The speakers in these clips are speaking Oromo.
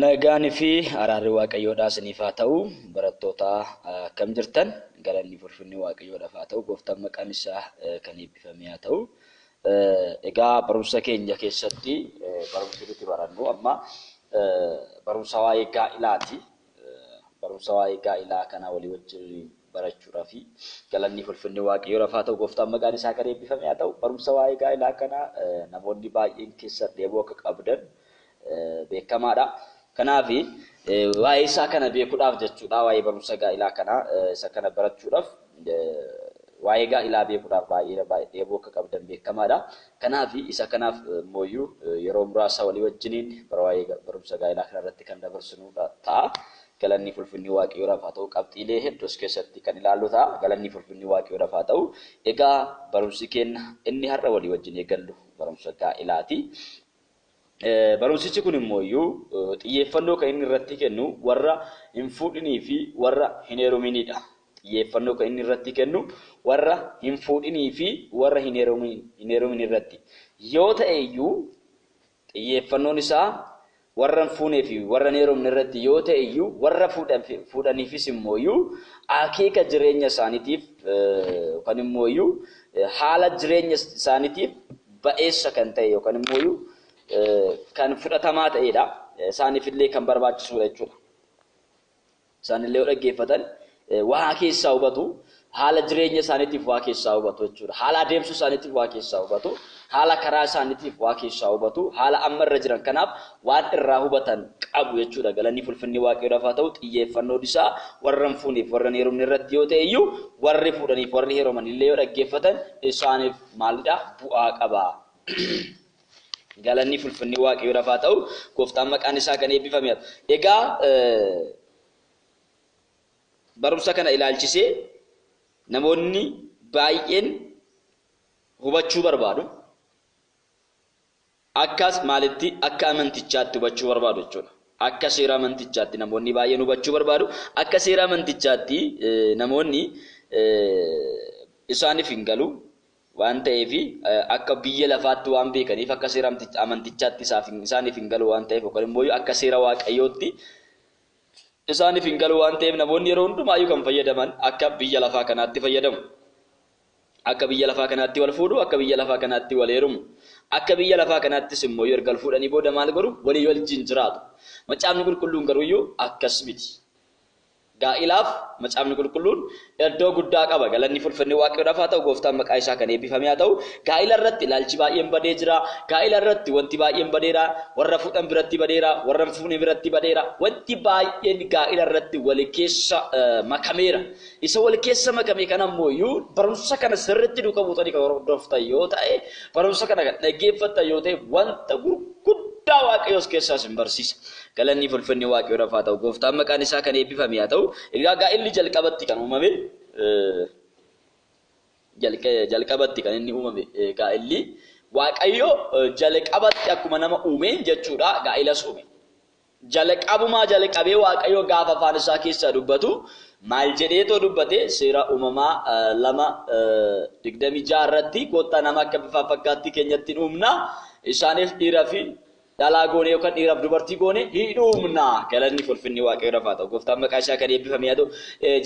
Nagaan fi araarri Waaqayyoodhaa isiniif haa ta'u. Barattootaa akkam jirtan? Galanni fulfinni Waaqayyoodhaaf haa ta'u. Gooftaan maqaan isaa kan eebbifamee haa ta'u. Egaa barumsa keenya keessatti barumsi nuti barannu amma barumsa waa'ee gaa'ilaati. Barumsa waa'ee gaa'ilaa kana walii wajjin barachuudhaafi. Galanni fi ulfinni Waaqayyoodhaaf haa ta'u, Gooftaan maqaan isaa kan eebbifame haa ta'u. Barumsa waa'ee gaa'ilaa kana namoonni baay'een keessan dheebuu akka qabdan beekamaadha. Kanaaf waa'ee isaa kana beekuudhaaf jechuudha, waa'ee barumsa gaa'ilaa kana isa kana barachuudhaaf. Waa'ee gaa'ilaa beekuudhaaf baay'ee dheebuu akka qabdan beekamaadha. Kanaaf isa kanaaf immooyyuu yeroo muraasa walii wajjiniin bara waa'ee barumsa gaa'ilaa kana irratti kan dabarsinu ta'a. Galanni fi ulfinni Waaqayyoodhaaf haa ta'u. Qabxiilee hedduu as keessatti kan ilaallu ta'a. Galanni fi ulfinni Waaqayyoodhaaf haa ta'u. Egaa barumsi keenya inni har'a walii wajjin eegallu barumsa gaa'ilaati. Barumsichi kun immooyyuu xiyyeeffannoo kan inni irratti kennu warra hin fuudhinii fi warra hin heeruminii dha. Xiyyeeffannoo kan inni irratti kennu warra hin fuudhinii fi warra hin heerumin irratti yoo ta'e iyyuu, xiyyeeffannoon isaa warra hin fuunee fi warra hin heerumne irratti yoo ta'e iyyuu, warra fuudhaniifis immooyyuu akeeka jireenya isaaniitiif yookaan immooyyuu haala jireenya isaaniitiif ba'eessa kan ta'e yookan immooyu kan fudhatamaa ta'eedha. Isaanifillee kan barbaachisuudha jechuudha. Isaanillee yoo dhaggeeffatan waa keessaa hubatu, haala jireenya isaaniitiif waa keessaa hubatu jechuudha. Haala adeemsa isaaniitiif waa keessaa hubatu, haala karaa isaaniitiif waa keessaa hubatu, haala amma irra jiran kanaaf waan irraa hubatan qabu jechuudha. Galanii fulfinni Waaqayyoodhaaf haa ta'u xiyyeeffannoon isaa warra hin fuuneef warra hin heerumne irratti yoo ta'e iyyuu warri fuudhaniif warri heerumanillee yoo dhaggeeffatan isaaniif maalidha? Bu'aa qaba. Galanni fulfinni Waaqayyoodhaaf haa ta'u, gooftaan maqaan isaa kan eebbifame haa ta'u. Egaa barumsa kana ilaalchisee namoonni baay'een hubachuu barbaadu. Akkas maalitti? Akka amantichaatti hubachuu barbaadu jechuudha. Akka seera amantichaatti namoonni baay'een hubachuu barbaadu. Akka seera amantichaatti namoonni isaaniif hin galu. Waan ta'eef akka biyya lafaatti waan beekaniif akka seera amantichaatti isaaniif hin galu waan ta'eef yookaan immoo akka seera waaqayyootti isaaniif hin galu waan ta'eef namoonni yeroo hundumaayyuu kan fayyadaman akka biyya lafaa kanaatti fayyadamu. Akka biyya lafaa kanaatti wal fuudhu, akka biyya lafaa kanaatti wal heerumu. Akka biyya lafaa kanaattis immoo erga wal fuudhanii booda maal godhu? Walii wajjin jiraatu. Macaafni Qulqulluun garuu iyyuu akkas miti. Gaa'ilaaf Macaafni Qulqulluun iddoo guddaa qaba. Galanni fi ulfinni Waaqayyoodhaaf haa ta'u, Gooftaan maqaa isaa kan eebbifame haa ta'u. Gaa'ila irratti ilaalchi baay'een badee jira. Gaa'ila irratti wanti baay'een badeera. Warra fuudhan biratti badeera, warra hin fuune biratti badeera. Wanti baay'een gaa'ila irratti wal keessa makameera. Isa wal keessa makame kana immoo iyyuu barumsa kana sirriitti duuka buutanii kan hordoftan yoo ta'e barumsa kana kan dhaggeeffattan yoo ta'e wanta gurguddaa waaqayyo as keessaa isin barsiisa. Galanni fi ulfinni waaqayyoodhaaf haa ta'u. Gooftaan maqaan isaa kan eebbifame haa ta'u. Egaa gaa'illi jalqabatti kan uumame jalqabatti kan inni uumame gaa'illi waaqayyo jalqabatti akkuma nama uumeen jechuudha gaa'elas uume. Jalqabumaa jalqabee Waaqayyo gaafa afaan isaa keessaa dubbatu maal jedheetoo dubbate seera uumamaa 2 26 irratti koottaa nama akka bifaaf fakkaattii keenyatti hin uumna isaaniif dhiira fi dhalaa goone yookaan dhiiraaf dubartii goone hin uumna galanni fulfinni waaqayyo rafaa ta'u gooftaan maqaa isaa kan eebbifame haa ta'u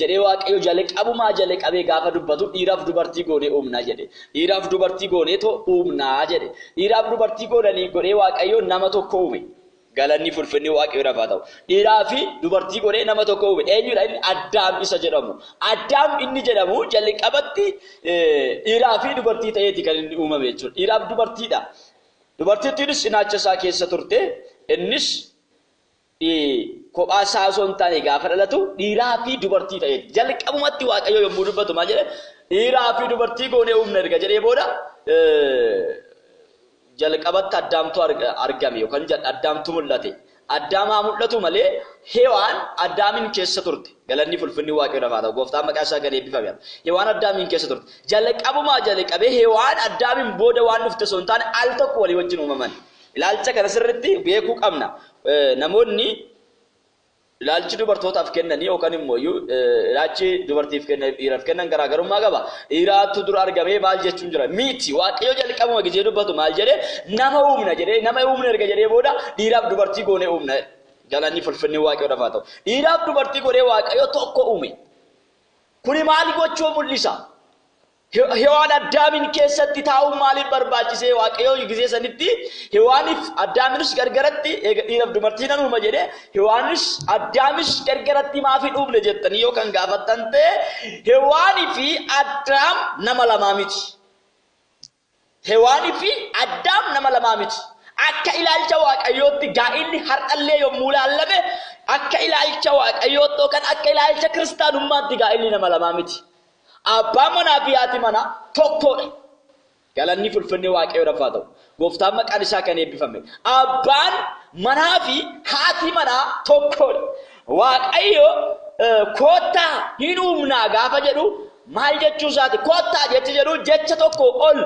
jedhee waaqayyo jalqabumaa jalqabee gaafa dubbatu dhiiraaf dubartii goone uumna jedhe dhiiraaf dubartii gooneetoo uumna jedhe dhiiraaf dubartii goonanii godhee waaqayyo nama tokko uume Galanni fi ulfinni Waaqayyoodhaaf haa ta'u. Dhiiraa fi dubartii godhee nama tokko uume. Eenyudha inni? Addaam isa jedhamu. Addaam inni jedhamu jalqabatti dhiiraa fi dubartii ta'eeti kan inni uumame jechuudha. Dhiiraa fi dubartiidha. Dubartittiinis cinaacha isaa keessa turte. Innis kophaa isaa osoo hin taane gaafa dhalatu dhiiraa fi dubartii ta'eeti. Jalqabumatti Waaqayyo yommuu dubbatu maal jedhe? Dhiiraa fi dubartii goonee uumna erga jedhee booda Jalqabatti Addaamtu argame yookan Addaamtu mul'ate. Addaam haa mul'atu malee Hewaan Addaamiin keessa turte. Galanni fi ulfinni Waaqayyoodhaaf haa ta'u. Gooftaan maqaan isaa gad eebbifame haa ta'u. Hewaan Addaamiin keessa turte. Jalqabumaa jalqabee Hewaan Addaamiin booda waan dhufte osoo hin taane al tokko walii wajjin uumaman. Ilaalcha kana sirriitti beekuu qabna. Namoonni Ilaalchi dubartootaaf kennanii yookan immoo iyyuu ilaachi dubartiif kennaif dhiiraf kennan garaa garummaa qaba. Dhiiraattu dura argamee maal jechuun jira? Miti! Waaqayyo jalqabuma gizee dubbatu maal jedhe? Nama uumna jedhee, nama uumna erga jedhee booda dhiiraaf dubartii goonee uumna jedhe. Galanni fi ulfinni Waaqayyoodhaf haa ta'u. Dhiiraaf dubartii godhee Waaqayyo tokko uume. Kuni maal gochuu mul'isa? Hewaan Addaamiin keessatti taa'uun maaliif barbaachisee waaqayyoo gizee sanitti Hewaaniif Addaaminis gargaratti eega dhiiraf dumartii nan uuma jedhe Hewaanis Addaamis gargaratti maaf hin uumne jettanii yoo kan gaafattan ta'e Hewaanii fi Addaam nama lamaa miti. Hewaanii fi Addaam nama lamaa miti. Akka ilaalcha Waaqayyootti gaa'illi har'allee yommuu ilaallame akka ilaalcha Waaqayyootti yookaan akka ilaalcha kiristaanummaatti gaa'illi nama lamaa miti. Abbaan manaa fi haati manaa tokkoodha. Galanni fi ulfinni Waaqayyoodhaaf haa ta'u. Gooftaan maqaan isaa kan eebbifame. Abbaan manaa fi haati manaa tokkoodha. Waaqayyo koottaa hin uumnaa gaafa jedhu maal jechuu isaati? Koottaa jechi jedhu jecha tokko ol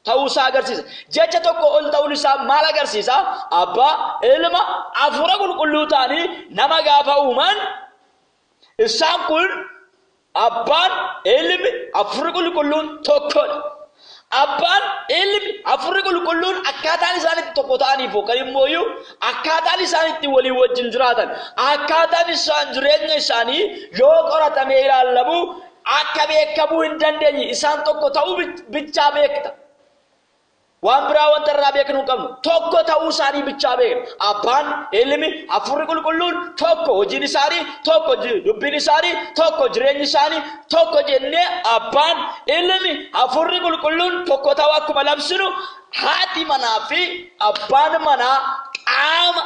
ta'uu isaa agarsiisa. Jecha tokko ol ta'uun isaa maal agarsiisa? Abbaa, Ilma, Hafuura Qulqulluu ta'anii nama gaafa uuman isaan kun Abbaan, Ilmi, Hafuurri Qulqulluun tokkodha. Abbaan, Ilmi, Hafuurri Qulqulluun akkaataan isaan itti tokko ta'aniif yookaan immooyyuu akkaataan isaan itti walii wajjin jiraatan, akkaataan isaan jireenya isaanii yoo qoratamee ilaallamu akka beekamuu hin dandeenye isaan tokko ta'uu bichaa beekta. Waan biraa wanta irraa beeknu hin qabnu. Tokko ta'uu isaanii bichaa beekna. Abbaan, Ilmi, Hafuurri Qulqulluun tokko hojiin isaanii, tokko dubbiin isaanii, tokko jireenyi isaanii, tokko jennee Abbaan, Ilmi, Hafuurri Qulqulluun tokko ta'uu akkuma labsinu haati manaa fi abbaan manaa qaama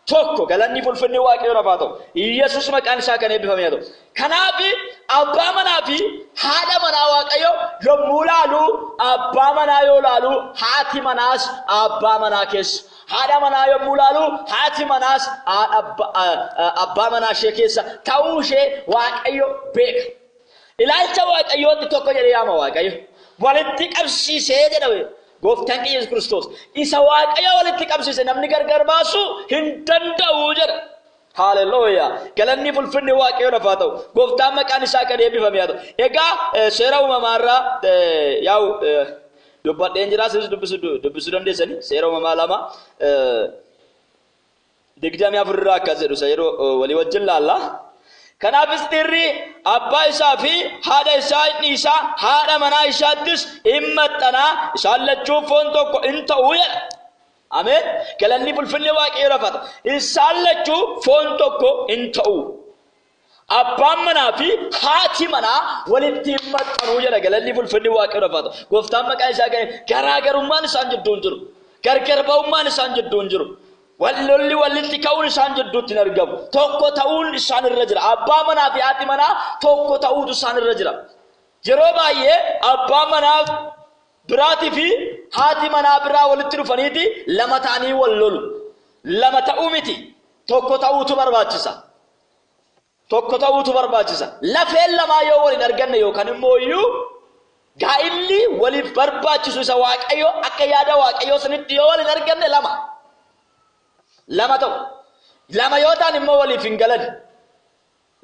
Tokko galanni fulfinni waaqayyoon hafaa ta'u. Yesus maqaan isaa kan eebbifame haa ta'u. Kanaaf abbaa manaa fi haadha manaa waaqayyo yommuu laalu abbaa manaa yoo laalu haati manaas abbaa manaa keessa. Haadha manaa yommuu laalu haati manaas abbaa manaa ishee keessa ta'uu ishee waaqayyo beeka. Ilaalcha waaqayyootti tokko jedhee yaama waaqayyo. Walitti qabsiisee jedhame. Gooftaan keenya Yesuus Kiristoos isa Waaqayyo walitti qabsiise namni gargar baasuu hin danda'u jedha. Haalelooyaa! Galanni fulfinni Waaqayyoon hafaa ta'u. Gooftaan maqaan isaa kan eebbifame haa ta'u. Egaa seera uumamaa irraa yaa'u dubbadheen jira. Isinis dubbisuu dandeessanii seera uumamaa lama 24 irraa akkas jedhu isa yeroo walii wajjin laalla. Kanaafis dhiirri abbaa isaa fi haadha isaa in dhiisa, haadha manaa isaattis in maxxana, isaan lachuu foon tokko in ta'u jedha. Ameen. Galanni bulfinni waaqayyo rafata. Isaan lachuu foon tokko in ta'u. Abbaan manaa fi haati manaa walitti hin maxxanuu jedha galanni fulfinni waaqayyoodhaaf haa ta'u. Gooftaan maqaa isaa ga'e garaagarummaan isaan jidduu hin jiru. Gargar ba'ummaan isaan jidduu hin jiru. Wallolli walitti ka'uun isaan jidduutti hin argamu. Tokko ta'uun isaan irra jira. Abbaa manaa fi haati manaa tokko ta'uutu isaan irra jira. Yeroo baay'ee abbaa manaa biraatii fi haati manaa biraa walitti dhufaniiti lama ta'anii wal lolu. Lama ta'uu miti tokko ta'uutu barbaachisa. tokko ta'uutu barbaachisa. Lafeen lamaa yoo wal hin arganne yookaan immoo iyyuu gaa'illi waliif barbaachisu isa waaqayyoo akka yaada waaqayyoo sanitti yoo wal hin arganne lama. Lama ta'u. Lama yoo ta'an immoo waliif hin galan.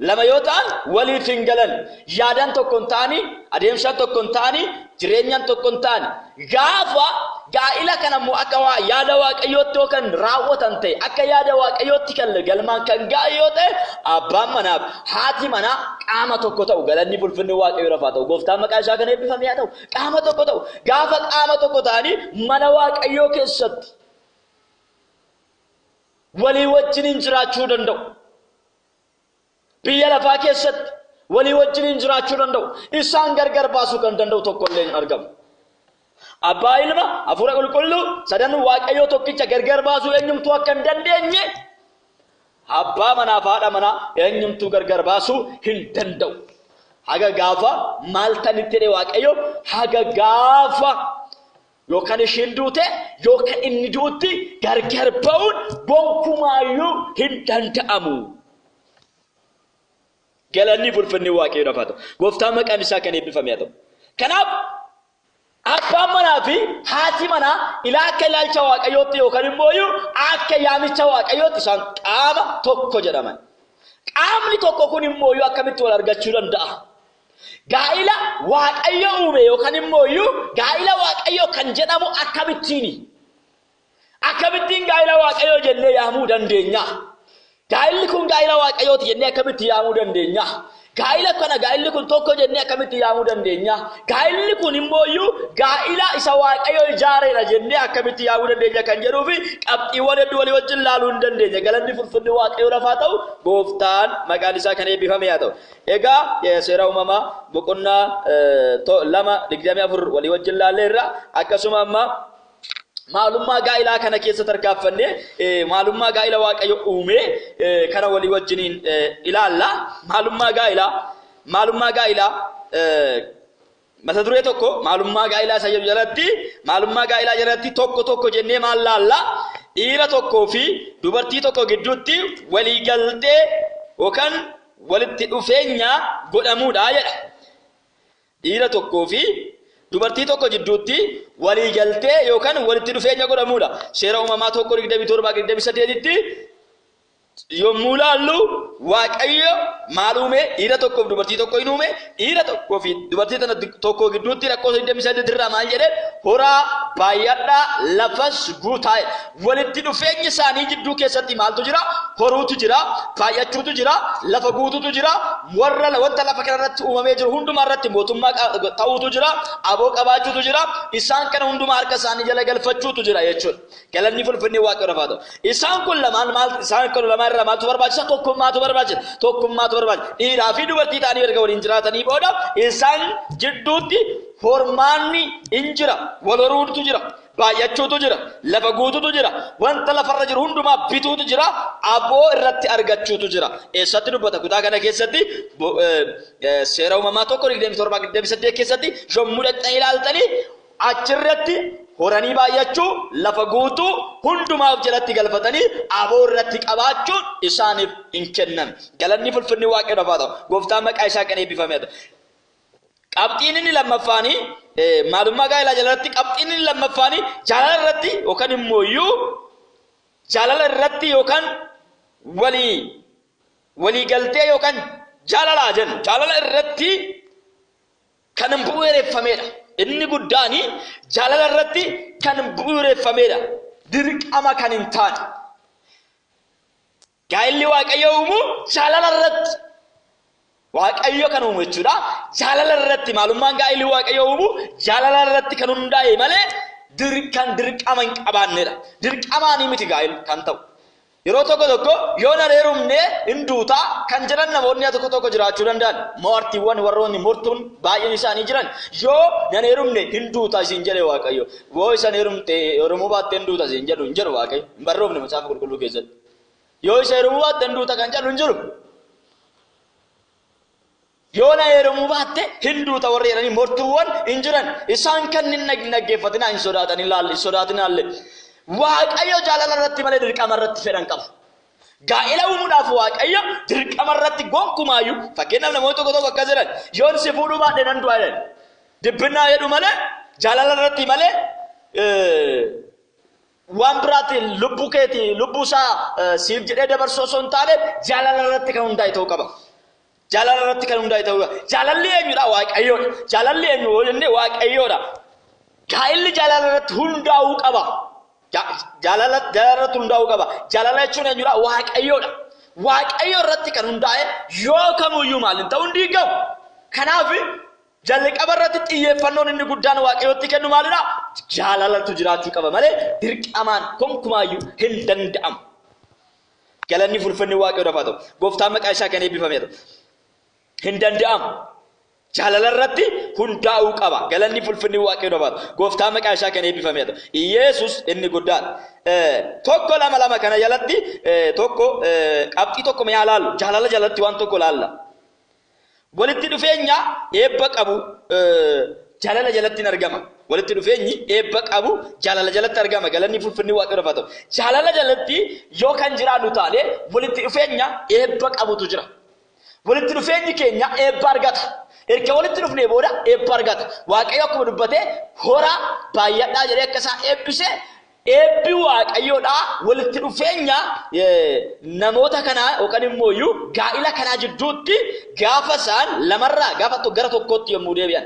Lama yoo ta'an waliif hin galan. Yaadaan tokko hin ta'anii, adeemsaan tokko hin ta'anii, jireenyaan tokko hin ta'anii. Gaafa gaa'ila kana immoo akka waa yaada waaqayyootti yoo kan raawwatan ta'e akka yaada waaqayyootti kan galmaan kan ga'an yoo ta'e abbaan manaaf haati manaa qaama tokko ta'u galanni bulfinni waaqayyoo lafaa ta'u gooftaan maqaa isaa kan eebbifame haa ta'u qaama tokko ta'u gaafa qaama tokko ta'anii mana waaqayyoo keessatti walii wajjiniin jiraachuu danda'u. Biyya lafaa keessatti walii wajjiniin jiraachuu danda'u. Isaan gargar baasuu kan danda'u tokko illee hin argamu. Abbaa, Ilma, Hafuura Qulqulluu, sadan Waaqayyoo tokkicha gargar baasuu eenyumtuu akka hin dandeenye, abbaa manaa fi haadha manaa eenyumtuu gargar baasuu hin danda'u. Haga gaafa maal tanitti jedhe Waaqayyo haga gaafa Yoo kan ishiin duute yoo kan inni du'utti gargar ba'uun gonkumaayyuu hin danda'amu. Galanni bulfinni waaqayyoodhaaf haa ta'u. Gooftaan maqaan isaa kan eebbifame haa ta'u. Kanaaf abbaan manaa fi haati manaa ilaa akka ilaalcha waaqayyootti yookaan immoo iyyuu akka yaamicha waaqayyootti isaan qaama tokko jedhaman. Qaamni tokko kun immoo iyyuu akkamitti wal argachuu danda'a? Gaa'ila Waaqayyo uume yookaan immoo iyyuu gaa'ila Waaqayyoo kan jedhamu akkamittiini? Akkamittiin gaa'ila Waaqayyoo jennee yaamuu dandeenya? Gaa'illi kun gaa'ila Waaqayyooti jennee akkamitti yaamuu dandeenya? Gaa'ila kana gaa'illi kun tokko jennee akkamitti yaamuu dandeenya? Gaa'illi kun immoo iyyuu gaa'ila isa Waaqayyo ijaareedha jennee akkamitti yaamuu dandeenya kan jedhuu fi qabxiiwwan hedduu walii wajjin ilaaluu hin dandeenya. Galanni fulfinni Waaqayyo lafaa ta'u gooftaan maqaan isaa kan eebbifame haa ta'u. Egaa seera uumamaa boqonnaa 2 24 walii wajjin laalleerra akkasuma amma maalummaa gaa'ilaa kana keessa tarkaanfannee maalummaa gaa'ila waaqayyo uumee kana walii wajjiniin ilaalla maalummaa gaa'ilaa maalummaa gaa'ilaa Mata duree tokko maalummaa gaa'ilaa isa jedhu jalatti maalummaa gaa'ilaa jalatti tokko tokko jennee maal laalla dhiira tokkoo fi dubartii tokko gidduutti walii galtee yookaan walitti dhufeenya godhamuudha jedha. Dhiira tokkoo fi dubartii tokko gidduutti walii galtee yookaan walitti dhufeenya godhamuudha. Seera uumamaa tokko 27 28tti yommuu laallu Waaqayyo maal uume? Dhiira tokkoof dubartii tokko hin uume. Dhiira tokkoo fi dubartii tana tokko gidduutti lakkoofsa 28 irraa maal jedhe? Horaa baay'adhaa lafas guutaa. Walitti dhufeenyi isaanii jidduu keessatti maaltu jira? Horuutu jira, baay'achuutu jira, lafa guutuutu jira, warra wanta lafa kana irratti uumamee jiru hundumaa irratti mootummaa ta'uutu jira, aboo qabaachuutu jira, isaan kana hundumaa harka isaanii jala galfachuutu jira jechuudha. Galanni fulfinni waaqayyoodhaaf haa ta'u. Isaan kun lamaan maal isaan kun lamaan irraa maaltu barbaachisa? Tokkummaatu barbaachisa. Tokkummaatu barbaachisa. Dhiiraa fi dubartii ta'anii erga waliin jiraatanii booda isaan jidduutti hormaanni in jira. Wal horuutu jira. Baay'achuutu jira. Lafa guututu jira. Wanta lafarra jiru hundumaa bituutu jira. Aboo irratti argachuutu jira. Eessatti dubbata kutaa kana keessatti seera uumamaa tokko 27 keessatti yommuu dhaqxanii ilaaltanii Achi irratti horanii baay'achuu, lafa guutuu hundumaa of jalatti galfatanii aboo irratti qabaachuun isaaniif in kenname. Galanni fulfinni Waaqayyoodhaaf haa ta'u. Gooftaan maqaa isaa kan eebbifame haa ta'u. Qabxiin inni lammaffaani maalummaa gaa'elaa jalarratti qabxiin inni lammaffaani jaalala irratti yookaan immoo iyyuu jaalala irratti yookaan walii walii galtee yookaan jaalala jennu jaalala irratti kan bu'uureffameedha. Inni guddaan jaalala irratti kan bu'uureffameedha. Dirqama kan hin taane. Gaa'illi Waaqayyo uumu jaalala irratti. Waaqayyo kan uumu jechuudha. Jaalala irratti maalummaan gaa'illi Waaqayyo uumu jaalala irratti kan hundaa'e malee kan dirqama hin qabaannedha. Dirqamaanii miti gaa'illi kan ta'u. Yeroo tokko tokko yoo nan heerumne in duuta kan jedhan namoonni tokko tokko jiraachuu danda'an. Maartiiwwan warroonni mortuun baay'een isaanii jiran yoo nan heerumne hin duuta isin jedhe Waaqayyo. Yoo isan heerumte heerumuu baatte hin duuta isin jedhu hin jedhu Waaqayyo. Hin barroofne macaafa qulqulluu keessatti. Yoo isa heerumuu baatte hin duuta kan jedhu hin jiru. Yoo na heerumuu baatte hin duuta warri jedhanii mortuuwwan hin jiran. Isaan kan hin dhaggeeffatinaa hin sodaatinaallee. Waaqayyo jaalala irratti malee dirqama irratti fedhan qabu. Gaa'ela uumuudhaaf Waaqayyo dirqama irratti gonkumaayyuu fakkeenyaaf namoonni tokko tokko akkas jedhan yoon si fuudhuu baadhe nan du'a jedhan. Dibbinnaa jedhu malee jaalala irratti malee waan biraatiin lubbuu keetii lubbuu isaa siif jedhee dabarsuu osoo hin taane jaalala irratti kan hundaa'e ta'uu qaba. Jaalala irratti kan hundaa'e ta'uu qaba. Jaalalli eenyudha? Waaqayyoodha. Jaalalli eenyu yoo jenne waaqayyoodha. Gaa'illi jaalala irratti hundaa'uu qaba. Jaalala irratti hundaa'uu qaba. Jaalala jechuun eenyudha? Waaqayyoodha. Waaqayyo irratti kan hundaa'e yoo kamuyyuu maal hin ta'u hin diigamu. Kanaaf jalqaba irratti xiyyeeffannoon inni guddaan waaqayyootti kennu maalidha? Jaalalatu jiraachuu qaba malee dirqamaan konkumaayyuu hin danda'amu. Galanni fulfinni waaqayyoodhaaf haa ta'u. Gooftaan maqaa isaa kan eebbifamee ta'u. Hin danda'amu. Jaalala irratti hundaa'uu qaba. Galanni fulfinni waaqayyoodhaaf haa ta'u. Gooftaan maqaa isaa kan eebbifamee ta'u. Iyeesus inni guddaan. Tokko lama lama kana jalatti tokko qabxii tokko mi'aa laallu. Jaalala jalatti waan tokko laalla. Walitti dhufeenya eebba qabu jaalala jalatti hin argama. Walitti dhufeenyi eebba qabu jaalala jalatti argama. Galanni fulfinni waaqayyoof haa ta'u. Jaalala jalatti yoo kan jiraannu taane walitti dhufeenya eebba qabutu jira. Walitti dhufeenyi keenya eebba argata. Erga walitti dhufnee booda eebba argata. Waaqayyo akkuma dubbate horaa baay'adhaa jedhee akka isaa eebbise Eebbi Waaqayyoo dha walitti dhufeenya namoota kanaa yookaan immoo iyyuu gaa'ila kanaa jidduutti gaafa isaan lamarraa gaafa tokko gara tokkootti yommuu deebi'an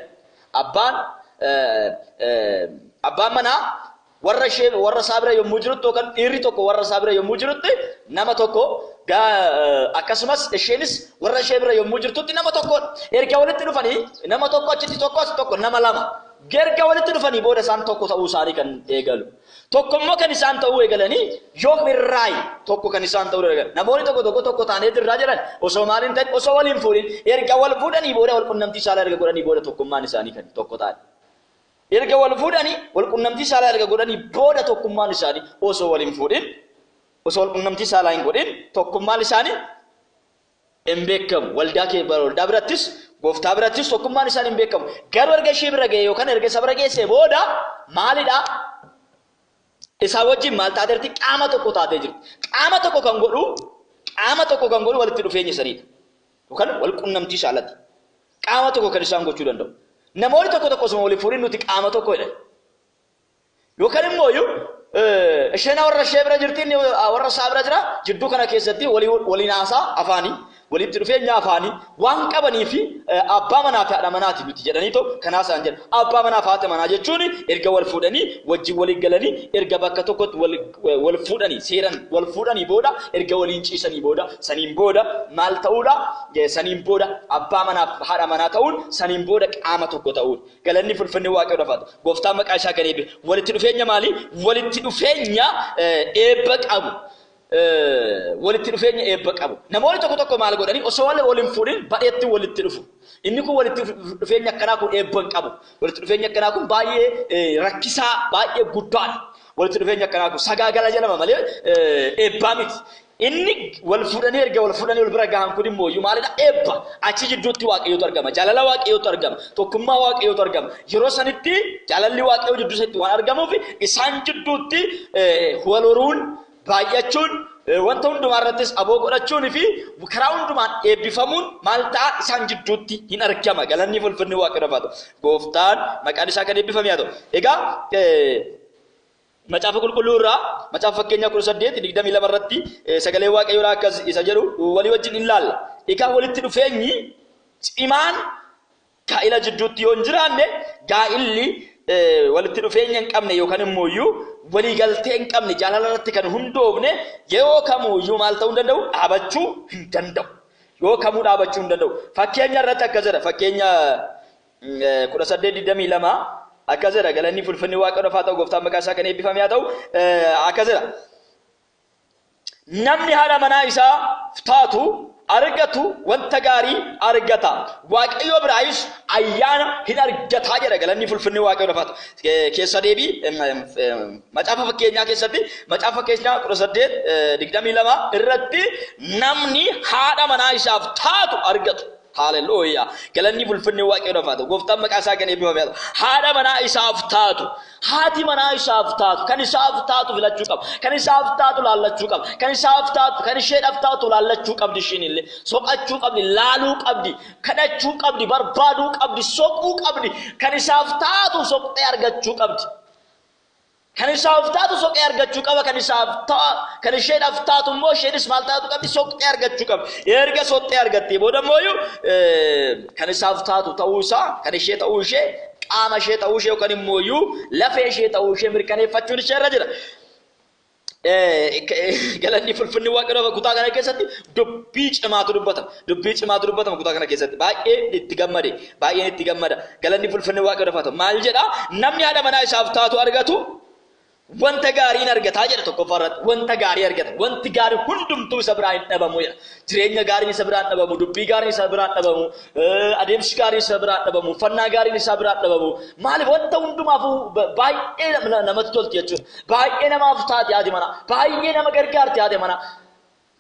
abbaan abbaan manaa warra ishee warra isaa bira yommuu jirutti yookaan dhiirri tokko warra isaa bira yommuu jirutti nama tokko akkasumas isheenis warra ishee bira yommuu jirtutti nama tokko erga walitti dhufanii nama tokko achitti tokko as tokko nama lama Erga walitti dhufanii booda isaan tokko ta'uu isaanii kan eegalu. Tokko immoo kan isaan ta'uu eegalanii yoom irraayi tokko kan isaan ta'uu eegalan. Namoonni tokko tokko tokko taanee jirraa jedhan osoo maal hin ta'in osoo wal hin fuudhin erga wal fuudhanii booda wal qunnamtii saalaa erga godhanii booda tokkummaan isaanii kan tokko ta'an. Erga wal fuudhanii wal qunnamtii saalaa erga godhanii booda tokkummaan isaanii osoo wal hin fuudhin osoo wal qunnamtii saalaa hin godhin tokkummaan isaanii hin beekamu. Waldaa kee bara waldaa birattis gooftaa birattis tokkummaan isaan hin beekamu. Garuu erga ishee bira ga'ee yookaan erga isa bira geessee booda maalidha? Isaa wajjin maal taateerti? Qaama tokko taatee jirti. Qaama tokko kan godhu qaama tokko kan godhu walitti dhufeenya saniidha. Yookaan wal qunnamtii saalati. Qaama tokko kan isaan gochuu danda'u. Namoonni tokko tokko osuma waliin fuudhin nuti qaama tokko jedhan. Yookaan immoo iyyuu isheen warra ishee bira jirti inni warra isaa bira jira jidduu kana keessatti waliin haasaa afaanii walitti dhufeenya afaanii waan qabanii fi abbaa manaa fi haadha manaati nuti jedhanii too kan haasaan jedha abbaa manaa fi haadha manaa jechuun erga wal fuudhanii wajjin walii galanii erga bakka tokkotti wal fuudhanii seeran wal fuudhanii booda erga waliin ciisanii booda saniin booda maal ta'uudha saniin booda abbaa manaa fi haadha manaa ta'uun saniin booda qaama tokko ta'uudha. Galanni fulfinni Waaqayyoodhaaf haa ta'u. Gooftaan maqaa isaa kan eebbe. Walitti dhufeenya maalii? Walitti dhufeenya eebba qabu. Walitti dhufeenya eebba qabu. Namoonni tokko tokko maal godhanii osoo wal hin fuudhin badheetti walitti dhufu. Inni kun walitti dhufeenya akkanaa kun eebba hin qabu. Walitti dhufeenya akkanaa kun baay'ee rakkisaa, baay'ee guddaadha. Walitti dhufeenya akkanaa kun sagaagala jedhama malee eebbaa miti. Inni wal fuudhanii erga wal fuudhanii wal bira gahan kun immooyyuu maalidha? Eebba. Achi jidduutti Waaqayyootu argama. Jaalala Waaqayyootu argama. Tokkummaa Waaqayyootu argama. Yeroo sanitti jaalalli Waaqayyoo jidduu isaatti waan argamuuf isaan jidduutti wal horuun, baay'achuun, wanta hundumaa irrattis aboo godhachuun fi karaa hundumaan eebbifamuun maal ta'a isaan jidduutti hin argama. Galanni fulfinni Waaqayyoof haa ta'u. Gooftaan maqaan isaa kan eebbifame haa ta'u. Egaa Macaafa Qulqulluu irraa Macaafa Fakkeenyaa 18:22 irratti sagalee Waaqayyoo akkas isa jedhu walii wajjin in laalla. Egaa walitti dhufeenyi cimaan gaa'ila jidduutti yoo hin jiraanne gaa'illi walitti dhufeenya hin qabne yookaan immoo iyyuu walii galtee hin qabne jaalala irratti kan hundoofne yeroo kamuu iyyuu maal ta'uu hin danda'u dhaabachuu hin danda'u. Yoo kamuu dhaabachuu hin danda'u. Fakkeenya irratti akkas jedha. Fakkeenya 18 22 akkas jedha galanni fulfinni waaqa dhofaa ta'u gooftaan maqaa isaa kan eebbifame haa ta'u akkas jedha namni haadha manaa isaa taatu argatu wanta gaarii argata waaqayyo biraayis ayyaana hin argataa jedha galanni fulfinni waaqayyo dhofaa ta'u keessa deebii macaafa fakkeenyaa keessatti macaafa fakkeenyaa 18 22 irratti namni haadha manaa isaaf taatu argatu Haalelooyaa. Galanni bulfinni waaqayyoodhaaf haa ta'u. Gooftaan maqaa isaa kan eebbifame haa ta'u. Haadha manaa isaaf taatu. Haati manaa isaaf taatu. Kan isaaf taatu filachuu qaba. Kan isaaf taatu laallachuu qaba. Kan isaaf taatu kan isheedhaaf taatu laallachuu qabdi ishiin illee. Soqachuu qabdi, laaluu qabdi, kadhachuu qabdi, barbaaduu qabdi, soquu qabdi. Kan isaaf taatu soqxee argachuu qabdi. Kan isaaf taatu soqee argachuu qaba, kan isaaf ta'a, kan isheedhaaf taatu immoo isheenis maal taatu qabdi? Soqxee argachuu qabdi. Erga soqxee argattee booda immoo iyyuu kan isaaf taatu ta'uu isaa, kan ishee ta'uu ishee, qaama ishee ta'uu ishee yookaan immoo iyyuu lafee ishee ta'uu ishee mirkaneeffachuun ishee irra jira. Galanni fulfinni Waaqayyoof kutaa kana keessatti dubbii cimaatu dubbatama. Dubbii cimaatu dubbatama kutaa kana keessatti. Baay'een itti gammade. Baay'een itti gammada. Galanni fulfinni waaqayyoodhaaf haa ta'u. Maal jedha? Namni haadha manaa isaaf taatu argatu wanta gaarii hin argataa jedha tokkoffaa irratti. Wanta gaarii argata. Wanti gaarii hundumtuu isa biraa hin dhabamu jedha. Jireenya gaariin isa biraa hin dhabamu. Dubbii gaariin isa biraa hin dhabamu. Adeemsi gaariin isa biraa hin dhabamu. Uffannaa gaariin isaa biraa hin dhabamu. Maaliif wanta hundumaaf baay'ee namatti tolti jechuudha. Baay'ee namaaf taati haati manaa. Baay'ee nama gargaarti haati manaa.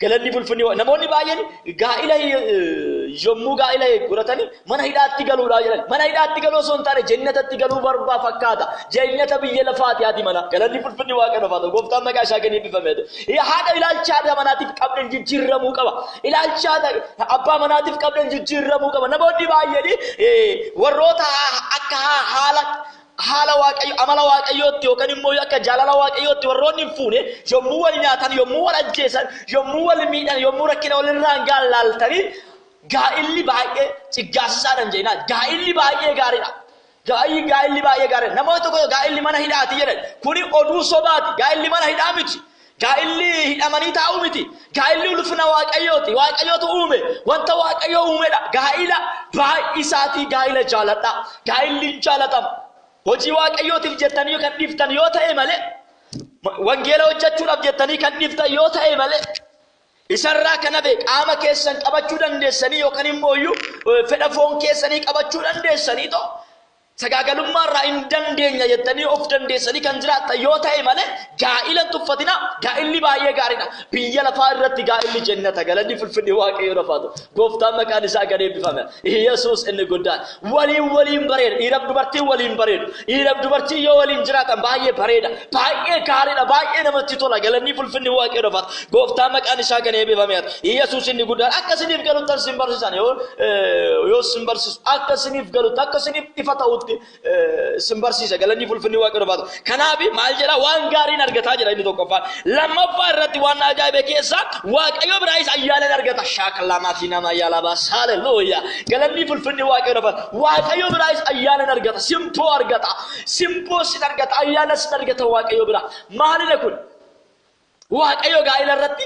Galanni fulfinni wa- namoonni baay'een gaa'ila hi- yommuu gaa'ila godhatanii mana hidhaatti galuudhaa jedhan mana hidhaatti galuu osoo hin taane jennatatti galuu barbaa fakkaata jennata biyya lafaati haati mana galanni fulfinni waaqayyo lafaata gooftaan maqaa isaa kan eebbifame yaa haadha ilaalcha haadha manaatiif qabdan jijjiirramuu qaba ilaalcha haadha abbaa manaatiif qabdan jijjiirramuu qaba namoonni baay'een eh, warroota ha- akka ha- haala haala waaqayyo amala waaqayyootti yookaan immoo akka jaalala waaqayyootti warroonni hin fuune yommuu wal nyaatan yommuu wal ajjeesan yommuu wal miidhan yommuu rakkina walirraan gahan laaltanii gaa'illi baay'ee ciggaasisaadhan jeenaa gaa'illi baay'ee gaariidha. Gaa'illi gaa'illi baay'ee gaariidha. Namoota tokko gaa'illi mana hidhaati jedhan kuni oduu sobaati gaa'illi mana hidhaa miti. Gaa'illi hidhamanii taa'uu miti. Gaa'illi ulfina Waaqayyooti. Waaqayyootu uume. Wanta Waaqayyoo uumedha. Gaa'ila baay'isaatii gaa'ila jaaladhaa. Gaa'illi hin jaalatama. Hojii Waaqayyootiif jettanii kan dhiiftan yoo ta'e malee, wangeela hojjechuudhaaf jettanii kan dhiiftan yoo ta'e malee, isarraa kan hafe qaama keessan qabachuu dandeessanii yookaan immoo iyyuu fedha foon keessanii qabachuu dandeessanii too Sagaagalummaa irraa hin dandeenya jettanii of dandeessanii kan jiraattan yoo ta'e malee gaa'ila hin tuffatinaa. Gaa'illi baay'ee gaariidha. Biyya lafaa irratti gaa'illi jennata. Galanni fulfinni waaqayyoo lafaatu. Gooftaan maqaan isaa kan eebbifame. Yesuus inni guddaan. Waliin waliin bareeda. Dhiiraaf dubartiin waliin bareedu. Dhiiraaf dubartiin yoo waliin jiraatan baay'ee bareeda. Baay'ee gaariidha. Baay'ee namatti tola. Galanni fulfinni waaqayyoo lafaatu. Gooftaan maqaan isaa kan eebbifame ati. Yesuus inni guddaan akka isiniif galuttan sin barsiisan yoo eh, yoo sin barsiisu akka isiniif galutti akka isiniif ifa ta'utti eh, sin barsiisa galanni fulfinni waaqayyoo baata. Kanaaf maal jedha waan gaariin argataa jira inni tokkoffaa. Lammaffaa irratti waan na ajaa'ibe keessaa waaqayyo biraayis ayyaana ni argata shaakalaa maatii nama ayyaala baasa haleluuya galanni fulfinni waaqayyo baata. Waaqayyo biraayis ayyaana ni argata simpoo argata simpoo sin argata ayyaana sin argata waaqayyo biraa maalidha kun? Waaqayyo gaa'ila irratti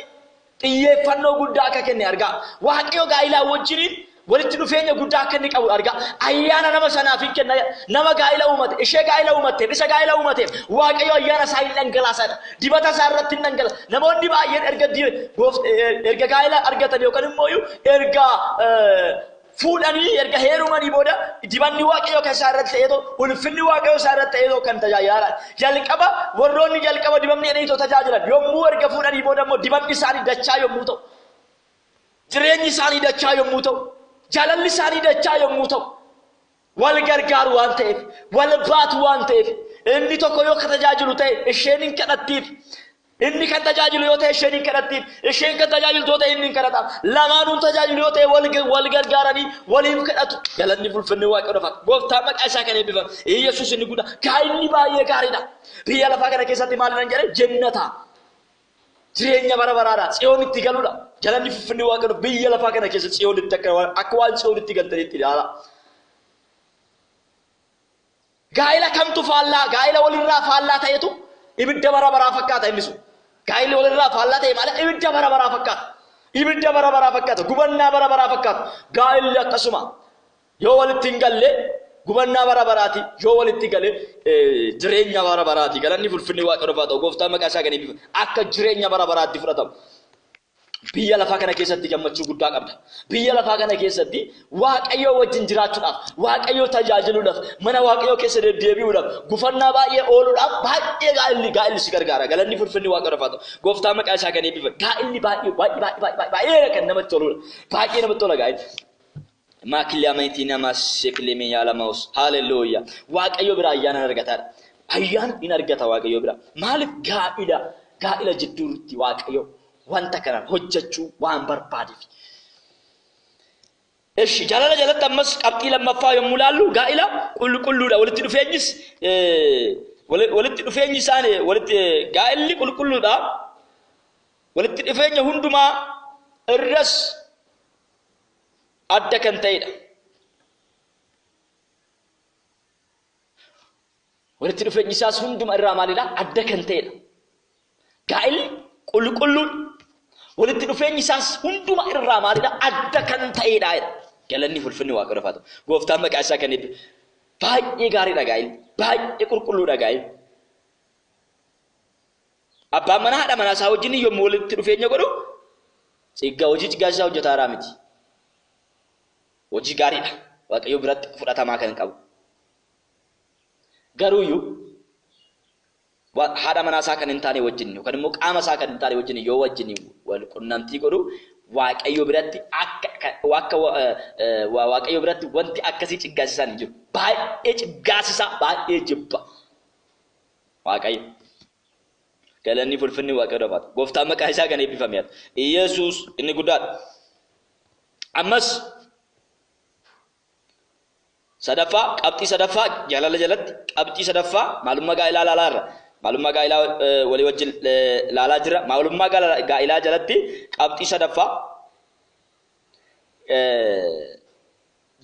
xiyyeeffannoo guddaa akka kenne argaa. Waaqayyo gaa'ilaa wajjiniin walitti dhufeenya guddaa akka inni qabu argaa. Ayyaana nama sanaaf hin kenna. Nama gaa'ila uumate, ishee gaa'ila uumatteef, isa gaa'ila uumateef Waaqayyo ayyaana isaa hin dhangalaasaadha. Dibata isaa irratti hin dhangala. Namoonni baay'een erga erga gaa'ila argatan yookaan immoo erga Fuudhanii erga heerumanii booda dibanni waaqayyoo kan isaa irratti ta'eetoo ulfinni waaqayyoo isaa irratti ta'eetoo kan tajaajilaadha. Jalqaba warroonni jalqaba dibamni jedhaniitoo tajaajilan yommuu erga fuudhanii booda immoo dibanni isaanii dachaa yommuu ta'u jireenyi isaanii dachaa yommuu ta'u jaalalli isaanii dachaa yommuu ta'u Wal gargaaru waan ta'eef, wal baatu waan ta'eef, inni tokko yoo ka tajaajilu ta'e isheen hin kadhattiif. Inni kan tajaajilu yoo ta'e isheen hin kadhattiif. Isheen kan tajaajiltu yoo ta'e inni hin kadhataaf. Lamaanuun tajaajilu yoo ta'e wal, wal gargaaranii waliif kadhatu. Galanni fulfinni waaqayyoodha fa'a. Gooftaa maqaa isaa kan eebbifame. Yesuus inni guddaa. Kaa inni baay'ee gaariidha. Biyya lafaa kana keessatti maal nan jedhe? Jennata. Jireenya bara baraadha. Tsiyoonitti galuudha. Galanni fuffinni Waaqayyoo biyya lafaa kana keessa Tsiyoonitti akka waan akka waan Tsiyoonitti galtanitti ilaala. Gaa'ila kamtu faallaa gaa'ila walirraa faallaa ta'etu ibidda bara baraa fakkaata inni sun. Gaa'illi walirraa faallaa ta'e maala ibidda bara baraa fakkaata. Ibidda bara baraa fakkaata. Gubannaa bara baraa fakkaata. Gaa'illi akkasuma. Yoo walitti hin galle gubannaa bara baraati, yoo walitti gale jireenya bara baraati. Galanni fulfinni Waaqayyoof haa ta'u, gooftaan maqaa isaa kan eebbifamu. Akka jireenya bara baraatti fudhatamu. Biyya lafaa kana keessatti gammachuu guddaa qabda. Biyya lafaa kana keessatti Waaqayyoo wajjin jiraachuudhaaf, Waaqayyoo tajaajiluudhaaf, mana Waaqayyoo keessa deddeebi'uudhaaf, gufannaa baay'ee ooluudhaaf baay'ee gaa'illi gaa'illi si gargaara. Galanni fulfinni Waaqayyoof haa ta'u. Gooftaan maqaa isaa kan eebbifamu. Gaa'illi baay'ee baay'ee baay'ee baay'ee kan namatti toludha. Baay'ee namatti tola gaa'illi. Maa kiliyaameetii namaa seekileemee yaala maus haalelooyyaa waaqayyoo bira ayyaanaan argataadha ayyaana in argata waaqayyoo bira maaliif gaa'ila gaa'ila jidduurutti waaqayyoo wanta kanaan hojjechuu waan barbaadeef Eshi jaalala jalatti ammas qabxii lammaffaa yommuu laallu gaa'ila qulqulluudha walitti dhufeenyis walitti dhufeenyi isaan walitti gaa'illi qulqulluudha walitti dhufeenya hundumaa irras adda kan ta'edha. Walitti dhufeenyi isaas hunduma irraa maalidha? Adda kan ta'edha. Gaa'illi qulqulluun walitti dhufeenyi isaas hunduma irraa maalidha? Adda kan ta'edha. Galanni ulfinni waaqayyo lafaatu. Gooftaan maqaa isaa kan eebbisu. Baay'ee gaariidha gaa'illi. Baay'ee qulqulluudha gaa'illi. Abbaan manaa haadha manaa isaa wajjin yommuu walitti dhufeenya godhu ciggaa hojii ciggaas isaa hojjetaa irraa miti. Hojii gaariidha. Waaqayyo biratti fudhatamaa kan qabu. Garuuyyuu haadha manaa isaa kan hin taane wajjin yookaan immoo qaama isaa kan hin taane wajjin yoo wajjin wal qunnamtii godhu waaqayyo biratti akka akka waaqayyo biratti wanti akkasii ciggaasisaa hin jiru. Baay'ee ciggaasisaa baay'ee jibba. Waaqayyo. Galanni fulfinni waaqayyo dafaata. Gooftaan maqaa isaa kan eebbifame haa ta'u. Iyesuus inni guddaadha. Ammas sadaffaa qabxii sadaffaa jaalala jalatti qabxii sadaffaa maalummaa gaa'ilaa ilaalaa irra maalummaa gaa'ilaa eh, walii wajjin eh, ilaalaa jira maalummaa gaala- gaa'ilaa jalatti qabxii sadaffaa eh,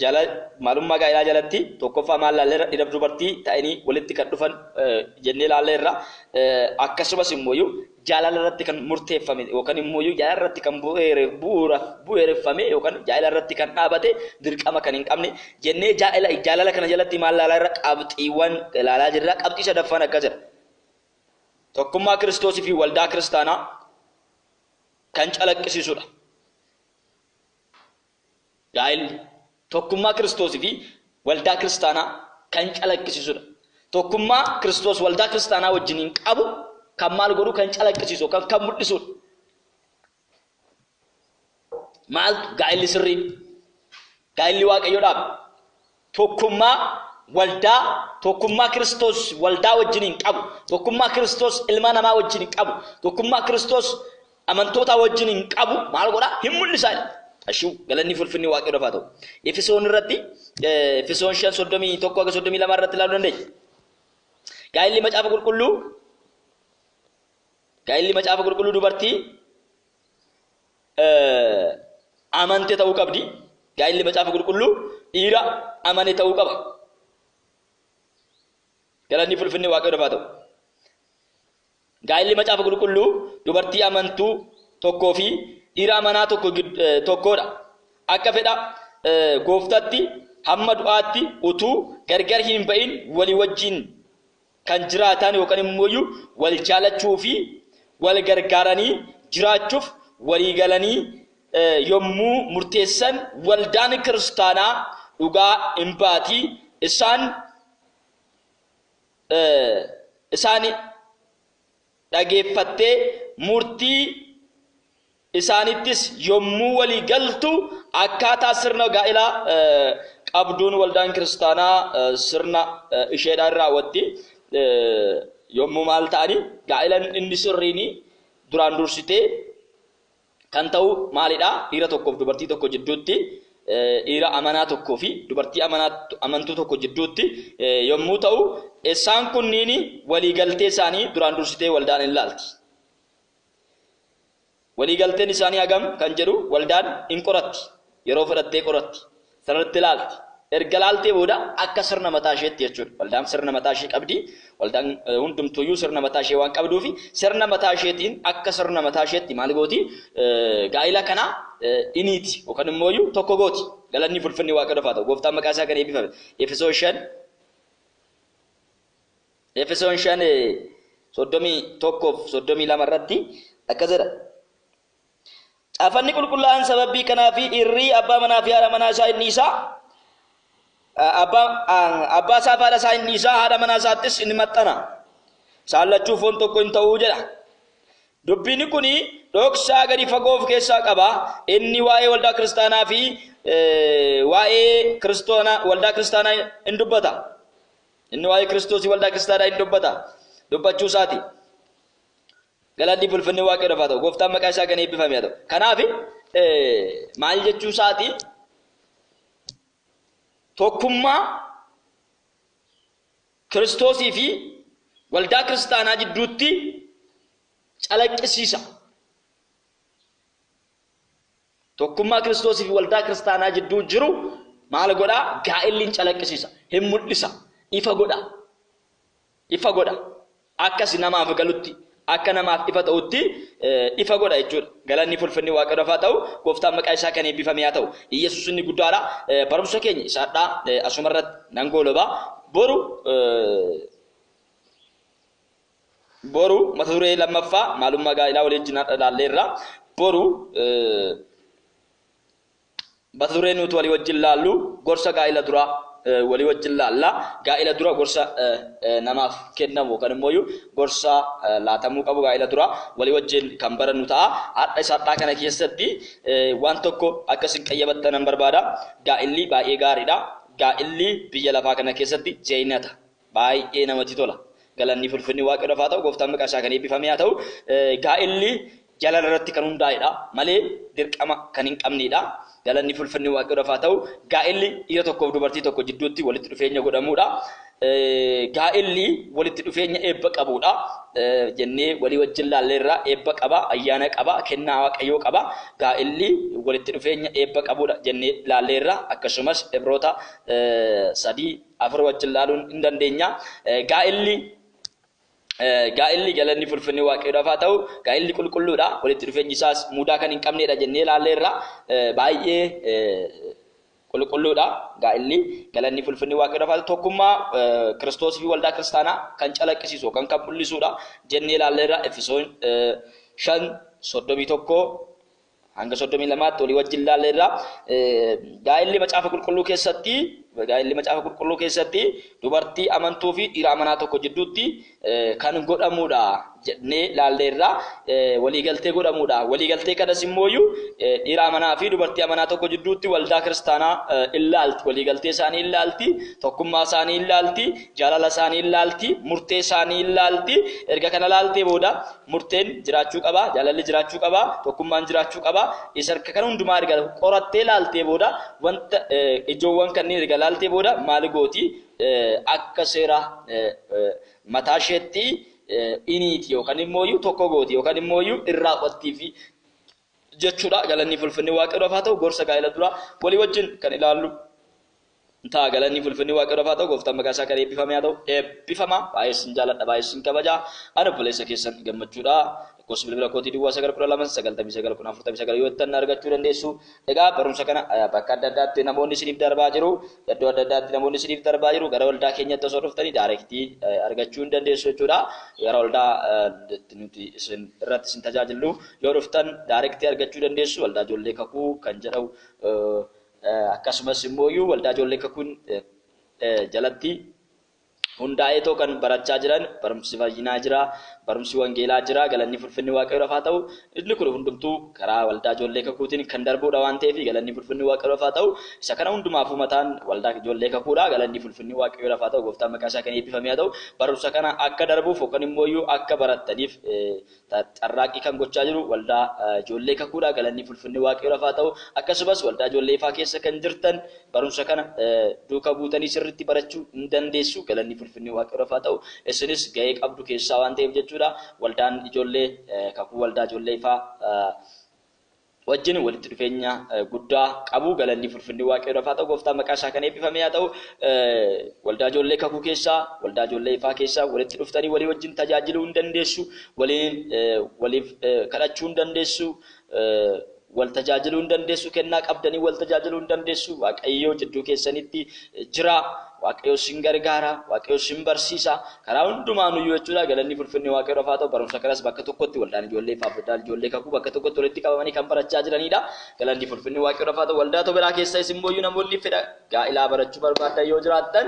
Jaala, Maalummaa gaa'ilaa jalatti tokkoffaa maal laalle irra dhiraf dubartii ta'anii walitti kan dhufan jennee laalle irra akkasumas immooyu jaalala irratti kan murteeffame yookan immooyu jaalala irratti kan bu'uura bu'eereffame yookan jaa'ila irratti kan dhaabate dirqama kan hin qabne jennee jaa'ila jaalala kana jalatti maal laalaa irra qabxiiwwan laalaa jirra qabxii sadaffaan akka jira tokkummaa kiristoosii fi waldaa kiristaanaa kan calaqqisiisudha. Gaa'illi tokkummaa Kiristoos fi waldaa kiristaanaa kan calaqqisiisudha. Tokkummaa Kiristoos waldaa kiristaanaa wajjiniin qabu kan maal godhu kan calaqqisiisu yookaan kan mul'isudha. Maaltu gaa'illi sirriin? Gaa'illi Waaqayyodhaaf Tokkummaa waldaa Tokkummaa Kiristoos waldaa wajjiniin qabu, tokkummaa Kiristoos ilma namaa wajjiniin qabu, tokkummaa Kiristoos amantootaa wajjiniin qabu maal godha? Hin mul'isa. Ashuu galanni fulfinni waaqayyoodhaaf haa ta'u. Efisoon irratti Efisoon 5:31-32 irratti ilaaluu dandeenya. Gaa'illi macaafa qulqulluu gaa'illi macaafa qulqulluu dubartii amante ta'uu qabdi. Gaa'illi macaafa qulqulluu dhiira amane ta'uu qaba. Galanni fulfinni waaqayyo dafaa ta'u. Gaa'illi macaafa qulqulluu dubartii amantuu tokkoo fi dhiira amanaa tokko tokkodha. Akka fedha gooftatti hamma du'aatti utuu gargar hin ba'in walii wajjin kan jiraataan yookaan immooyyuu wal jaalachuu fi wal gargaaranii jiraachuuf walii galanii yommuu murteessan waldaan kiristaanaa dhugaa in baati isaan isaan dhageeffattee murtii isaanittis yommuu walii galtu akkaataa sirna gaa'ilaa qabduun waldaan kiristaanaa sirna isheedhaa in raawwatti. Yommuu maal ta'ani gaa'ilan inni sirriini duraan dursitee kan ta'u maalidha? Dhiira tokkoof dubartii tokko jidduutti dhiira amanaa tokkoo fi dubartii amantuu tokko jidduutti yommuu ta'u isaan kunniin walii galtee isaanii duraan dursitee waldaan in laalti. Waliigalteen isaanii hagam kan jedhu waldaan in qoratti. Yeroo fedhattee qoratti. Sanarratti ilaalti. Erga ilaaltee booda akka sirna mataa isheetti jechuudha. Waldaan sirna mataa ishee qabdi. Waldaan hundumtuuyyuu sirna mataa ishee waan qabduufi sirna mataa isheetiin akka sirna mataa isheetti maal gooti? Gaa'ila kana in hiiti yookaan immooyyuu tokko gooti. Galanni fulfinni Waaqayyoof haa ta'u. Gooftaan maqaa isaa kan eebbifame. Efesoon 5 Efesoon 5 31 fi 32 irratti akkas jedha. Caafanni qulqullaa'aan sababii kanaa fi dhiirri abbaa manaa fi haadha manaa isaa inni isaa abbaa abbaa isaa fi haadha isaa inni isaa haadha manaa isaattis inni maxxana. Isaan lachuu foon tokko hin ta'uu jedha. Dubbiin kun dhoksaa gadi fagoo of keessaa qaba. Inni waa'ee waldaa kiristaanaa fi waa'ee kiristoona waldaa kiristaanaa hin dubbata. Inni waa'ee Kiristoosii waldaa kiristaanaa in dubbata. Dubbachuu isaati. Galanni bulfinni waaqayyoodhaaf haa ta'u. Gooftaan maqaa isaa kan eebbifame haa ta'u. Kanaaf maal jechuu isaati? Tokkummaa Kiristoosii fi waldaa kiristaanaa jidduutti calaqqisiisa. Tokkummaa Kiristoosii fi waldaa kiristaanaa jidduu jiru maal godha? Gaa'elli hin calaqqisiisa, hin mul'isa, ifa godha. Ifa godha. Akkasi namaaf galutti, akka namaaf ifa ta'utti ifa godha jechuudha. Galanni fi ulfinni Waaqayyoof haa ta'u, gooftaan maqaa isaa kan eebbifame haa ta'u. Iyyasuus inni guddaadha. Barumsa keenya isa hadhaa asuma irratti nan gooloba. Boru Boru mata duree lammaffaa maalummaa gaa'ilaa walii wajjin har'a ilaalleerra. Boru mata duree nuti walii wajjin laallu gorsa gaa'ila duraa walii wajjin laalla. Gaa'ila dura gorsa namaaf kennamu yookaan immoo gorsa laatamuu qabu gaa'ila dura walii wajjin kan barannu ta'a. Har'a isa har'aa kana keessatti waan tokko akka isin qayyabattan nan barbaada. Gaa'illi baay'ee gaariidha. Gaa'illi biyya lafaa kana keessatti zeenata. baay'ee namatti tola galanni fulfinni waaqayyoodhaaf haa ta'u gooftaan maqaa isaa kan eebbifame haa ta'u gaa'elli jalala irratti kan hundaa'edha malee dirqama kan hin qabneedha galanni fulfinni waaqayyoodhaaf haa ta'u gaa'elli dhiira tokkoof dubartii tokko jidduutti walitti dhufeenya godhamuudha gaa'elli walitti dhufeenya eebba qabuudha jennee walii wajjin laalleerraa eebba qaba ayyaana qaba kennaa waaqayyoo qaba gaa'elli walitti dhufeenya eebba qabuudha jennee laalleerraa akkasumas ibroota sadii afur wajjin laaluun hin dandeenya. Gaa'illi gaa'illi galanni fulfinni waaqayyoodhaaf haa ta'u gaa'illi qulqulluudha walitti dhufeenyi isaas mudaa kan hin qabneedha jennee ilaalleerra baay'ee qulqulluudha gaa'illi galanni fulfinni waaqayyoodhaaf haa ta'u tokkummaa kiristoos fi waldaa kiristaanaa kan calaqqisiisu kan kan mul'isuudha jennee ilaalleerra efesoon shan soddomii tokko hanga 32tti olii wajjin laalleerra. Gaa'elli macaafa qulqulluu keessatti gaa'elli macaafa qulqulluu keessatti dubartii amantuu fi dhiira amanaa tokko jidduutti kan godhamudha jennee laalleerra. Waliigaltee godhamudha. Waliigaltee kanas immoo dhiira amanaa fi dubartii amanaa tokko jidduutti waldaa kiristaanaa ilaalti. Waliigaltee isaanii ilaalti. Tokkummaa isaanii ilaalti. Jaalala isaanii ilaalti. Murtee isaanii ilaalti. Erga kana ilaaltee booda Murteen jiraachuu qaba, jaalalli jiraachuu qaba, tokkummaan jiraachuu qaba. Isa erga kana hundumaa erga qorattee laaltee booda wanta ijoowwan kanneen erga laaltee booda maal gooti? Akka seera mataa isheetti iniiti yookaan immoo iyyuu tokko gooti yookaan immoo iyyuu irraa qottiifi jechuudha. Galanni fulfinni waaqayyoodhaaf haa ta'u gorsa gaa'ela duraa walii wajjin kan ilaallu. ta'a galanni fulfinni waaqayyoof haa ta'u gooftaan maqaa isaa kan eebbifame haa ta'u eebbifama baay'ee sin jaaladha baay'ee sin kabaja ani obboleessa keessan gammachuudha lakkoofsi bilbila kootii duwwaa sagal kudha lama sagaltamii sagal kun afurtamii sagal yoo ittan argachuu dandeessu egaa barumsa kana bakka adda addaatti namoonni isiniif darbaa jiru iddoo adda addaatti namoonni isiniif darbaa jiru gara waldaa keenyatti osoo dhuftanii daayirektii argachuu hin dandeessu jechuudha gara waldaa nuti isin irratti isin tajaajillu yoo dhuftan daayirektii argachuu dandeessu waldaa ijoollee kakuu kan jedhamu Akkasumas immooyuu Waldaa Ijoollee Kakuun jalatti hundaa'eetoo kan barachaa jiran barumsi fayyinaa jira, barumsi wangeelaa jira, galanni fulfinni Waaqayyoof haa ta'u. Inni kun hundumtuu karaa Waldaa Ijoollee Kakuutiin kan darbuudha waan ta'eef galanni fulfinni Waaqayyoof haa ta'u. Isa kana hundumaafuu mataan Waldaa Ijoollee Kakuudha. Galanni fulfinni Waaqayyoof haa ta'u. Gooftaan maqaan isaa kan eebbifame haa ta'u. Barumsa kana akka darbuuf yookan immooyuu akka barattaniif carraaqqii kan gochaa jiru waldaa ijoollee kakuudha galanni fulfinni waaqayyoodhaaf haa ta'u akkasumas waldaa ijoollee ifaa keessa kan jirtan barumsa kana duuka buutanii sirriitti barachuu hin dandeessu galanni fulfinni waaqayyoodhaaf haa ta'u isinis ga'ee qabdu keessaa waan ta'eef jechuudha waldaan ijoollee kakuu waldaa ijoollee ifaa wajjin walitti dhufeenya guddaa qabu. Galannii fulfinnii Waaqayyoodhaaf haa ta'u gooftaa maqaa isaa kan eebbifamee haa ta'u. Waldaa ijoollee kakuu keessaa, waldaa ijoollee ifaa keessaa walitti dhuftanii walii wajjin tajaajiluu hin dandeessu, waliin waliif kadhachuu hin dandeessu, wal tajaajiluu hin dandeessu, kennaa qabdanii wal tajaajiluu hin dandeessu. Waaqayyoo jidduu keessanitti jira. Waaqayyoo sin gargaara, Waaqayyoo sin barsiisa. Karaa hundumaanuyyuu jechuudha galanni fi ulfinni waaqayyoof haa ta'u barumsa kanas bakka tokkotti waldaan ijoollee ifaaf waldaan ijoollee kakuu bakka tokkotti walitti qabamanii kan barachaa jiraniidha galanni fi ulfinni waaqayyoof haa ta'u waldaa toberaa keessayis immooyyuu namoonni fedha gaa'ilaa barachuu barbaaddan yoo jiraattan